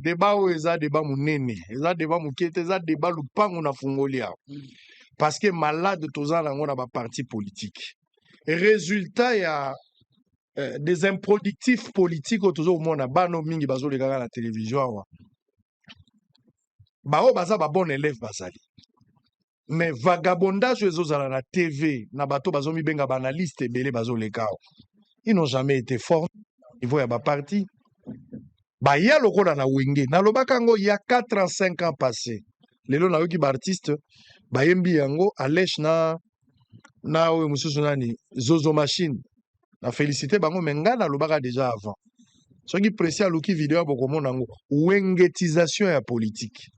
Debat oyo eza debat munene, eza debat mukie te, eza debat lupangu na fungoli awa. Parce que malade toza nango na ba partis politiques. Resultat ya eh, des improductifs politiques oyo tozo komona bana oyo mingi bazo leka kaka na television awa. Baoyo baza ba bon élève bazali. mais vagabondage oyo ezozala na tv na bato bazomibenga baanalyste ebele bazoleka awa ils n'ont jamais été fort niveau ya baparti baya lokola na wenge nalobaka yango ya 4 ans 5 ans passé lelo nayoki baartiste bayembi yango alesh na na oyo mosusu nani zozo machine na félicité bango me ngai nalobaka déjà avant soki presi aluki video bokomona yango wengetisation ya politike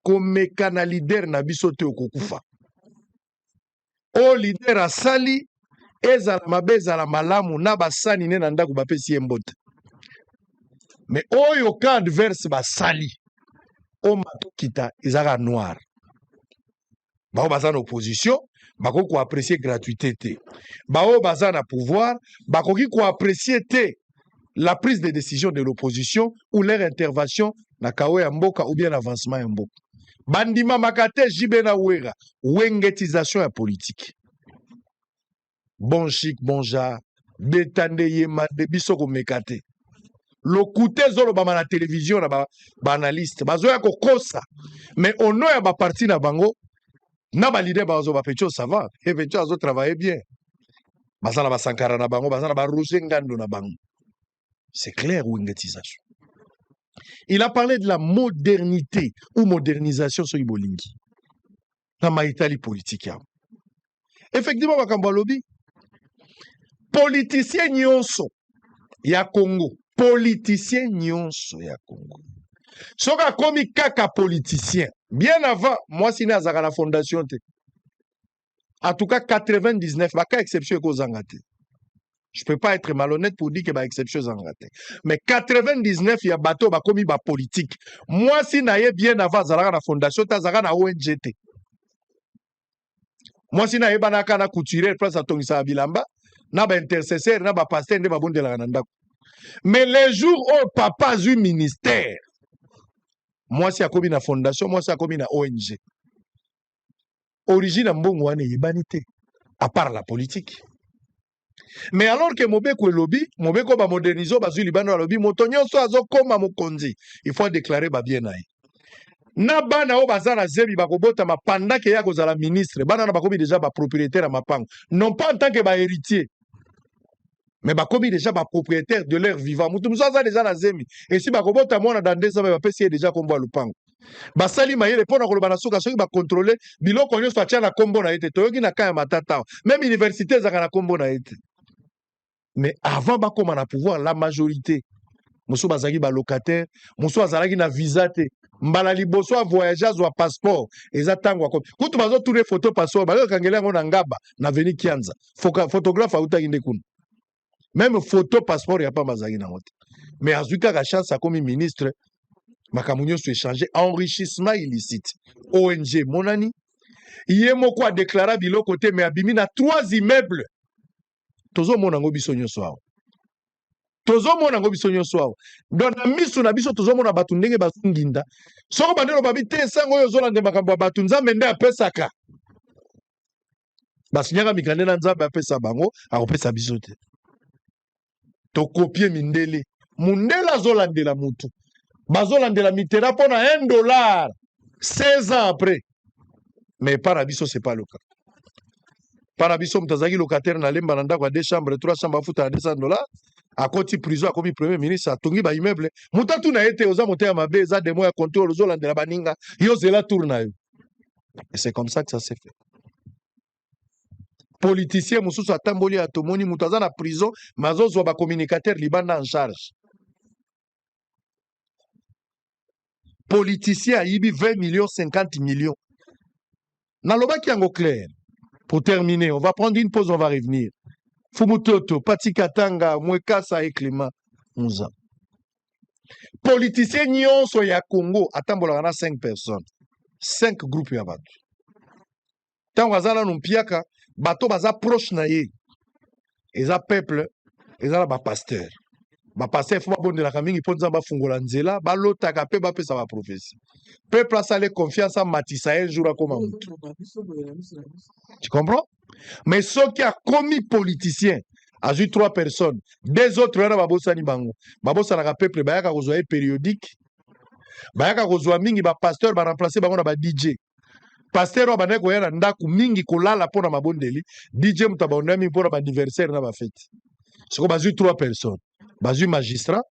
komeka na leader na biso te okokufa oyo leader asali ezala mabe ezala malamu na basani ne na ndako bapesi ye mbote me oyo ka adverse basali omata okita ezaka noir baoyo baza na opposition bakoki koaprecie gratuité te baoyo baza na pouvoir bakoki koaprecie te la prise de décision de l'opposition ou leur intervention na kawo ya mboka ou bien na avancement ya mboka bandimamaka te jb na wera wengetisation ya politike bon chic bon genre beta nde yemba nde biso komeka te lokuta ezolobama na televizio na baanalyste ba bazoya kokosa mais ono ya baparti na bango na balide bazo bapecho sava e pecho azotravaille bien baza na basankara na bango baza na baroge ngando na bango C'est clair, Wingetizazo. Il a parlé de la modernité ou modernisation soki bolingi na maitali politique yango. Effectivement, makambo alobi politicien nyonso ya Congo, politicien nyonso ya Congo soki akomi kaka politicien bien avant mwasi ne azalaka na fondation te en tout cas 99 ba cas exception ekozanga te je peux pas être malhonnête pour dire que ba exception ezanga te mais 99 ya bato bakomi ba politique mwasi na ye bien avant azalaka na fondation te azalaka na ong te mwasi na ye banaka na couturier place atongisaka bilamba na ba intercesseur na ba pasteur nde babondelaka na ndako mais le jour oyo oh, papa azwi ministère mwasi akomi na fondation mwasi akomi na ong origine ya mbongo wana eyebani te à part la politique mais alors que mobeko elobi mobeko bamodernise bazwi libanda balobi moto nyonso azokoma mokonzi il faut adeklare babie na ye na bana oyo baza na zebi bakobotama pandake ye akozala ministre bana wana bakomi deja bapropriétaire ya mapango non pas en tant que bahéritier mais bakomi deja ba propriétaire de leur vivant mutu mosusu aza deja na zemi esi bakobota mwana dans deux ans me bapesi ye deja nkombo ya lopango basali mayele mpo na koloba na suka soki bakontrole biloko nyonso atya na nkombo na ye te toyoki na ka ya matata awa meme université ezalaka na nkombo na ye te mais avant bakoma na pouvoir la majorité mosusu bazalaki balocataire mosusu azalaki na visa te mbala liboso ya voyage azwa passeport eza ntango akomi kutu bazotuna foto passeport bazokangela yango na ngaba na veni kianza Foka, photographe autaki nde kuna meme photo passeport ya pamba azalaki nango te mais azwi kaka chance akomi ministre makambo nyonso echange enrichissement illicite ong emonani ye moko adeklara biloko te mais abimi na trois immeuble tozomona yango biso nyonso awa tozomona yango biso nyonso awa don na miso na biso tozomona bato ndenge bazonginda soko bandelo babi te esango oyo ozolande makambo ya bato nzambe nde apesaka basinyaka mikanda na nzambe apesa bango akopesa biso te tokopie mindele mundele azolandela mutu bazolandela mitera mpo na 1 dollar 16 ans après mais epa na biso c'est pas le cas epa na biso moto azalaki locataire na lemba na ndako ya 2 chambre 3 chambre afuta na 200 dollar akoti prison akomi premier ministre atongi ba immeuble moto atuna ye te oza moto ya mabe eza demo ya controle ozolandela baninga yo zela tour na yo Et c'est comme ça que ça s'est fait. politicien mosusu atamboli ya tomoni moto aza na prison me azozwa bacommunicateur libanda en charge politicien ayibi 20 millions 50 millions nalobaki yango clair pour terminer on va prendre une pause on va revenir fumutoto pati katanga mwekasa et climat muza politicien nyonso ya congo atambolaka na 5 personnes 5 groupe ya bato ntango aza nanu mpiaka bato baza proche na ye eza peuple eza na bapasteur bapasteur fo babondelaka mingi mpo nzambe afungola nzela balotaka mpe bapesa baprofesi peuple asale confiance amatisa ye jour akoma motu tu comprends mais soki akomi politicien azwi trois personnes deux autres wana babosani bango babosanaka peuple bayaka kozwa ye périodique bayaka kozwa mingi bapasteur baremplace bango na ba dj pasteur oyo abandaki koya na ndako mingi kolala mpo na mabondeli dj moto abandaki mingi mpo na baanniversaire na bafeti soko bazwi trois personnes bazwi magistrat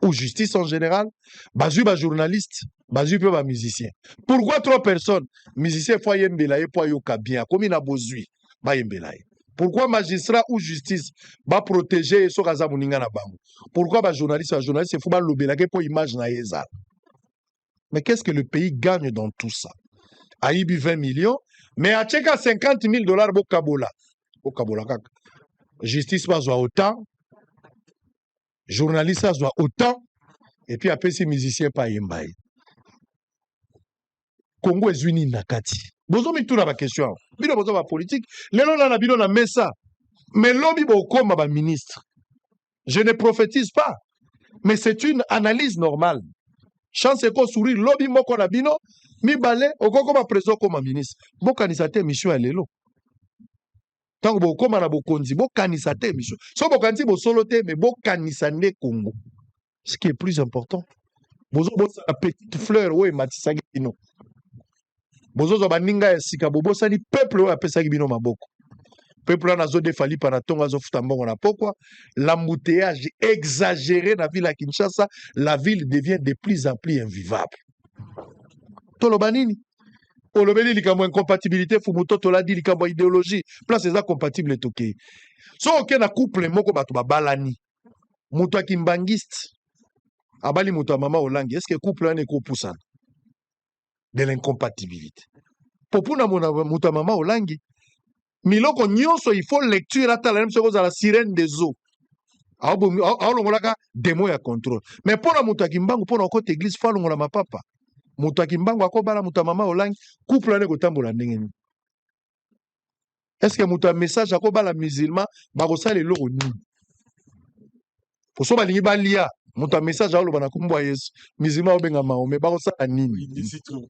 ou justice en général bazwi ba journaliste bazwi mpe ba musicien pourquoi trois personnes musicien fo ayembela ye mpo ayoka bien akomi na bozwi bayembela ye pourquoi magistrat ou justice baprotege ye soki aza moninga na bango pourquoi bajournaliste bajournaliste fo balobelake mpo image na ye ezala mais qu'est ce que le pays gagne dans tout ça ayibi 20 millions mais atyeka 50 000 dollars bokabola bokabola kaka justice bazwa autant journaliste azwa autant et puis apesi musicien pa yemba ye Congo ezwi nini na kati bozo mituna ba question awa bino boza ba politique lelo na na bino na mesa mais lobi bokoma ba ministre je ne prophétise pas mais c'est une analyse normale chance eko sourire lobi moko na bino mibale okokoma president okoma ministre bokanisa te mission ya lelo ntango bokokoma na bokonzi bokanisa te biso so bokanisi bosolo te me bokanisa nde congo ce qui est plus important bozobosana petite fleur oyo ematisaki bino bozozwa baninga ya sika bobosani peuple oyo apesaki bino maboko peuple wana azodefa lipa na ntongo azofuta mbongo na pokwa l'embouteillage exagéré na ville ya kinshasa la ville devient de plus en plus invivable toloba nini olobeli likambo incompatibilité fumu to toladi likambo ya ideologie place eza compatible tokei so oke na couple moko bato babalani moto ya kimbangiste abali moto ya mama olangi eske couple wana ekopusana de l'incompatibilité mpo mpona moto ya mama olangi miloko nyonso il faut lecture atala nayebisa kozala sirene des eaux Aobomi- ao- aolongolaka demo ya contrôle mais mpo na moto ya kimbangu mpo na okota eglise fo alongola mapapa moto ya kimbangu akobala moto ya mama olangi couple wana ekotambola ndenge nini estce moto ya message akobala musulman bakosala eloko nini poso balingi balia moto ya message aoloba na nkombo ya yesu musulman aobenga mahome bakosala nini Oui, ici trop.